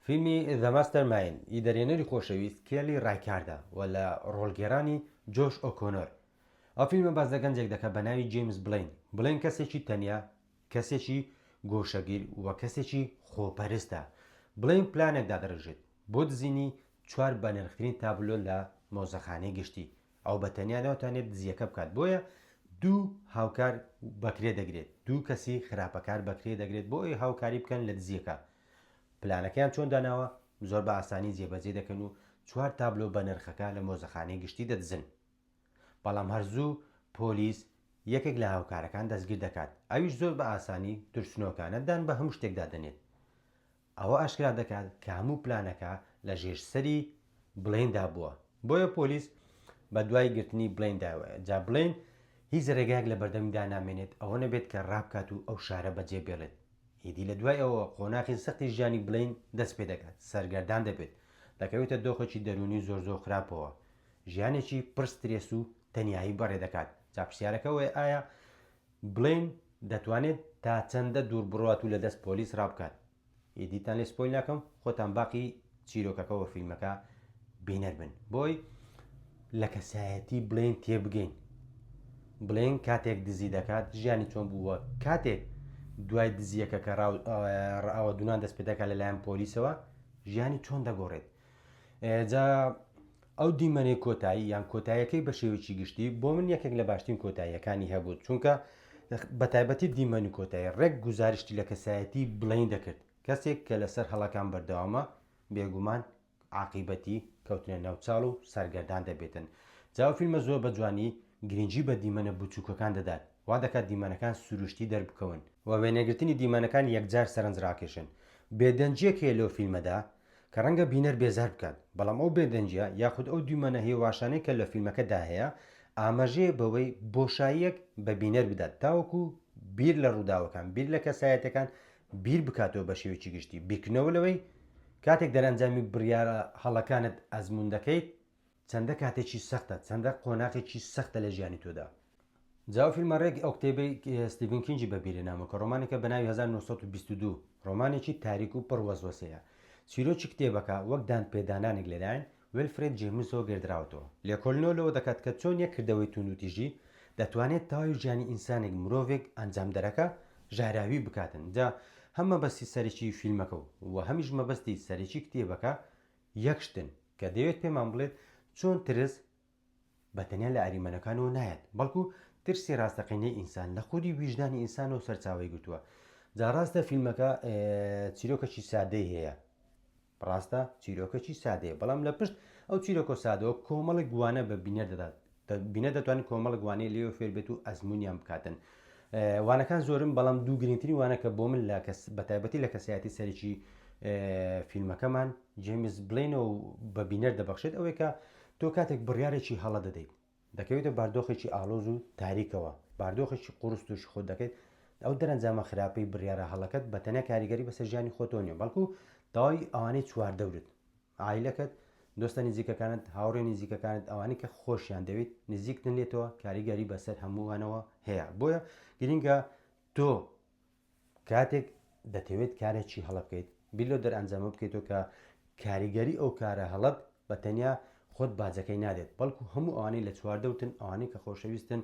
فیلمی The Mastermind ی دەرهێنەری خۆشەویست کێلی ڕایکاردە و لە ڕۆڵگێڕانی جۆش ئۆکۆنۆر. ئەو فیلمە باس لە گەنجێک دەکات بە ناوی جەیمس بلەین. بلەین کەسێکی تەنیا، کەسێکی گۆشەگیر و کەسێکی خۆپەرستە. بلەین پلانێک دادەڕێژێت بۆ دزینی چوار بەنرخترین تابلۆ لە مۆزەخانەی گشتی، ئەو بە تەنیا ناتوانێت دزییەکە بکات، بۆیە دوو هاوکار بەکرێ دەگرێت، دوو کەسی خراپەکار بەکرێ دەگرێت بۆ ئەوەی هاوکاری بکەن لە دزییەکە. پلانەکەیان چۆن داناوە؟ زۆر بە ئاسانی جێبەجێ دەکەن و چوار تابلۆ بەنرخەکە لە مۆزەخانەی گشتی دەدزن. بەڵام هەر زوو پۆلیس یەکێک لە هاوکارەکان دەستگیر دەکات، ئەویش زۆر بە ئاسانی ترسنۆکانە دان بە هەموو شتێکدا دەنێت. ئەوە ئاشکرا دەکات کە هەموو پلانەکە لە ژێر سەری بڵێیندا بووە، بۆیە پۆلیس بە دوای گرتنی بڵێین داوەیە، جا بڵێین هیچ رێگایەک لە بەردەمیدا نامێنێت ئەوە نەبێت کە رابکات و ئەو شارە بەجێ بێڵێت، ئیدی لە دوای ئەوەوە قۆناخی سەختی ژیانی بڵێین دەست پێ دەکات، سەرگەردان دەبێت، دەکەوێتە دۆخێکی دەروونی زۆر زۆر خراپەوە، ژیانێکی پڕ سترێس و تەنیایی بەڕێ دەکات، جا پرسیارەکە ئەوەیە ئایا بلین دەتوانێت تا چەندە دوور بڕوات و لە دەست پۆلیس ڕابکات ئیدیتان لێ سپۆیل ناکەم خۆتان باقی چیرۆکەکە وە فیلمەکە بینەر بن بۆی لە کەسایەتی بلین تێبگەین بلین کاتێک دزی دەکات ژیانی چۆن بووە کاتێک دوای دزیەکە کە ڕاوە دوان دەست پێدەکە لەلایەن پۆلیسەوە ژیانی چۆن دەگۆڕێت جا ئەو دیمەنەی کۆتایی یان کۆتاییەکەی بە شێوەیەکی گشتی بۆ من یەکێک لە باشترین کۆتاییەکانی هەبوو چونکە بە تایبەتی دیمەنی کۆتایی ڕێک گوزارشتی لە کەسایەتی بڵین دەکرد کەسێک کە لەسەر هەڵەکان بەردەوامە بێگومان عاقیبەتی کەوتنە ناو چاڵ و سەرگەردان دەبێتن جاو فیلمە زۆر بە جوانی گرنگی بە دیمەنە بچووکەکان دەدات وا دەکات دیمەنەکان سروشتی دەربکەون و وێنەگرتنی دیمەنەکان یەکجار سەرنجڕاکێشن بێدەنگیەک هەیە لەو فیلمەدا کە ڕەنگە بینەر بێزار بکات، بەڵام ئەو بێدەنگییە یاخود ئەو دیمەنە هێواشانەی کە لە فیلمەکەدا هەیە، ئاماژەیە بەوەی بۆشاییەک بە بینەر بدات تاوەکو بیر لە ڕووداوەکان، بیر لە کەسایەتییەکان بیر بکاتەوە بە شێوەیەکی گشتی، بیرکردنەوە لەوەی کاتێک دەرئەنجامی بڕیارە هەڵەکانت ئەزموون دەکەیت، چەندە کاتێکی سەختە چەندە قۆناغێکی سەختە لە ژیانی تۆدا. جا ئەو فیلمە ڕێک ئەو کتێبەی ستیڤن کینگی بەبیرە نامە کە ڕۆمانێکە بە ناوی 1922 ڕۆمانێکی تاریک و پڕ وەسوەسەیە. چیرۆکی کتێبەکە وەک دانپێدانانێک لەلایەن ویلفرێد جەیمسەوە گێردراوەتەوە. لێکۆلنەوە لەوە دەکات کە چۆن یەک کردەوەی توندوتیژی دەتوانێت تەواوی ژیانی ئینسانێک مرۆڤێک ئەنجامدەرەکە ژاراوی بکاتن. جا هەم مەبەستی سەرەکی فیلمەکە و هەمیش مەبەستی سەرەکی کتێبەکە یەک شتن. کە دەیەوێت پێمان بڵێت چۆن ترس بە تەنیا لە ئەریمەنەکانەوە نایەت، بەڵکو ترسی ڕاستەقینەی ئینسان لە خودی ویژدانی ئینسانەوە سەرچاوەی گرتووە. جا ڕاستە فیلمەکە چیرۆکەکی سادەی هەیە، ڕاستە چیرۆکەکی سادەیە، بەڵام لە پشت ئەو چیرۆکە سادەوە کۆمەڵێک گوانە بە بینەر دەدات، بینەر دەتوانن کۆمەڵک وانەی لێوە فێر بێت و ئەزمونیان بکاتن وانەکان زۆرم بەڵام دوو گرنگترین وانە کە بۆ من لە کەس بەتایبەتی لە کەسایەتی سەرکی فیلمەکەمان جیمز بلینە و بە بینەر دەبەخشێت ئەوەی کە تۆ کاتێک بڕارێکی هەڵە دەدەیت دەکەوێتە باردۆخێکی ئالۆز و تاریکەوە باردۆخێکی قرس توش خۆ دەکەیت ئەو دەرەنجامە خراپەی بڕارە هەڵەکەت بە تەنە کاریگەری بەسەر ژیانی خۆتۆ نیە بەڵکو داوای ئەوانەی چواردەورت عایلەکەت، دۆستە نزیکەکانت، هاوڕێ نزیکەکانت، ئەوانەی کە خۆشیان دەوێیت، نزیکتن لێتەوە، کاریگەری بەسەر هەمووانەوە هەیە. بۆیە گرینگە تۆ کاتێک دەتەوێت کارێکی هەڵە بکەیت، بیر لەو دەرئەنجامە بکەیتەوە کە کاریگەری ئەو کارە هەڵەت بە تەنیا خۆت باجەکەی نادێت، بەڵکو هەموو ئەوانەی لە چواردەوتن، ئەوانەی کە خۆشەویستن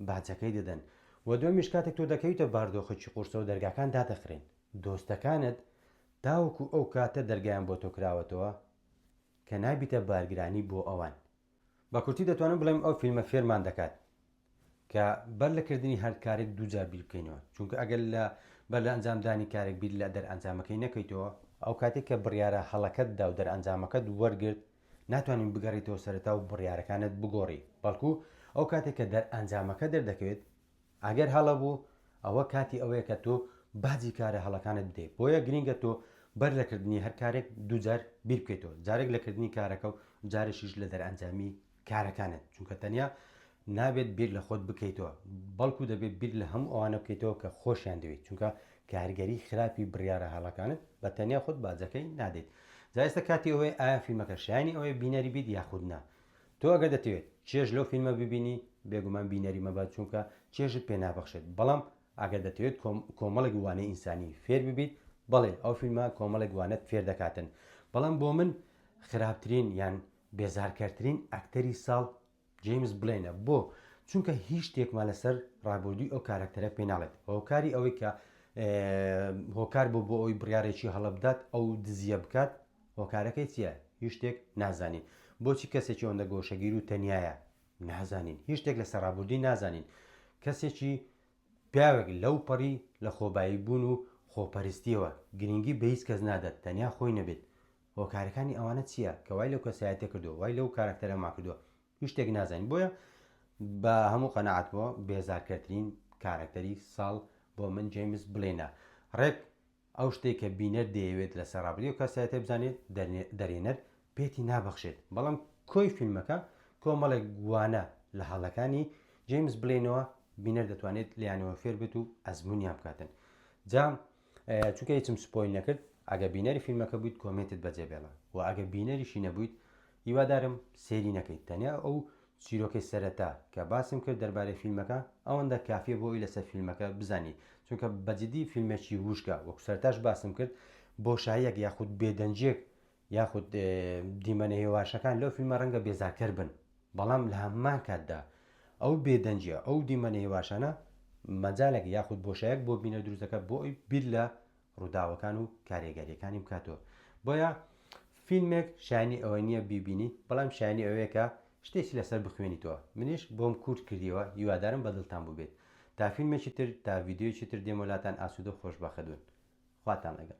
باجەکەی دەدەن. وە دووەمیش کاتێک تۆ دەکەویتە باردۆخێکی قورسەوە، دەرگاکان دادەخرێن. دۆستەکانت تاوەکو ئەو کاتە دەرگایان بۆ تۆ کراوەتەوە کە نابیتە بارگرانی بۆ ئەوان. بە کورتی دەتوانم بڵێم ئەو فیلمە فێرمان دەکات کە بەر لە کردنی هەر کارێک دوو جار بیر بکەینەوە، چونکە ئەگەر لە بەر لە ئەنجام دانی کارێک بیر لە دەرئەنجامەکەی نەکەیتەوە، ئەو کاتەی کە بڕیارە هەڵەکەت دا و دەرئەنجامەکەت وەرگرت ناتوانین بگەڕێیتەوە سەرەتا و بڕیارەکانت بگۆڕی، بەڵکو ئەو کاتەی کە دەرئەنجامەکە دەردەکەوێت ئەگەر هەڵە بوو ئەوە کاتی ئەوەیە کە تۆ باجی کارە هەڵەکانت بدەیت بۆیە گرینگە تۆ بەر لە کردنی هەر کارێک دووجار بیر بکەیتەوە جارێک لە کردنی کارەکە و جارێکیش لە دەرئەنجامی کارەکانت چونکە تەنیا نابێت بیر لە خۆت بکەیتەوە بەڵکو دەبێت بیر لە هەموو ئەوانە بکەیتەوە کە خۆشیان دەوێت چونکە کارگەری خراپی بڕیاە هەڵەکانت بە تەنیا خۆت باجەکەی نادەیت جایستە کاتی ئەوەی ئایا فیلمەکە شایانی ئەوەی بینەری بیت یاخودنا تۆ ئەگەر دەتەوێت چێژ لەو فیلمە ببینی بێگومان بینەری مەبە چونکە چێژت پێ نابەخشێت بەڵام ئەگەر دەتەوێت کۆمەڵێک وانەی ئینسانی فێر ببیت بەڵێ ئەو فیلمە کۆمەڵێک وانەت فێر دەکاتن بەڵام بۆ من خراپترین یان بێزارکەرترین ئەکتەری ساڵ جیمز بلێنە بۆ چونکە هیچ شتێکمان لەسەر ڕابردووی ئەو کارەکتەرە پێ ناڵێت هۆکاری ئەوەی کە هۆکار بوو بۆ ئەوی بڕارێکی هەڵبدات ئەو دزیە بکات هۆکارەکەی چیە؟ هیچ شتێک نازانین. بۆچی کەسێکی ئەوەندە گۆشەگیر و تەنیایە؟ نازانین. هیچ شتێک لەسەر ڕابوردی نازانین. کەسێکی پیاوێک لەو پەڕی لە خۆبایی بوون و خۆپەرستیەوە گرینگی بە هیچ کەس نادات تەنیا خۆی نەبێت. هۆکارەکانی ئەوانە چیە کە وای لەو کەسایەتیە کردووە؟ وای لەو کاراکتەرەمان کردووە؟ هیچ شتێک نازانین. بۆیە بە هەموو قەناعەتمەوە بێزارکەرترین کاراکتەری ساڵ بۆ من جەیمس بلێنە. ڕێک ئەو شتەی کە بینەر دەیەوێت لەسەر ڕابردووی ئەو کەسایەتیە بزانێت، دەرێنەر پێتی نابەخشێت، بەڵام کۆی فیلمەکە کۆمەڵێک وانە لە هەڵەکانی جەیمس بلەینەوە بینەر دەتوانێت لێیانەوە فێر بێت و ئەزمونیان بکاتن جا چونکە هیچم سپۆی نەکرد ئەگە بینەری فیلمەکە بوویت کۆمێنتت بەجێ بێڵە و ئەگە بینەریشی نەبوویت هیوادارم سێری نەکەیت تەنیا ئەو چیرۆکەی سەرەتا کە باسم کرد دەربارەی فیلمەکە ئەوەندە کافیە بۆ ی لەسەر فیلمەکە بزانی چونکە بە جدی فیلمێکی ووشکە وەکو سەرەتاش باسم کرد بۆشاییەک یاخود بێدەنگیەک یاخود دیمەنە هێواشەکان لەو فیلمە رەنگە بێزارکەر بن بەڵام لە هەمان کاتدا ئەو بێدەنگیە ئەو دیمەنە هێواشانە مەجالێک یاخود بۆشایەک بۆ بینەر دروست دەکات بۆ ی بیر لە ڕووداوەکان و کارێگەریەکانی بکاتەوە بۆیە فیلمێک شانی ئەوە نییە بیبینی بەڵام شانی ئەوەیە کە شتێکی لەسەر بخوێنیتەوە منیش بۆم کورت کردیەوە هیوادارم بەدڵتان بووبێت تا فیلمێکی تر تا ڤیددیویی تر دێمۆلاتان ئاسوودە و خۆشبەخەدون خواتان لەگەڵ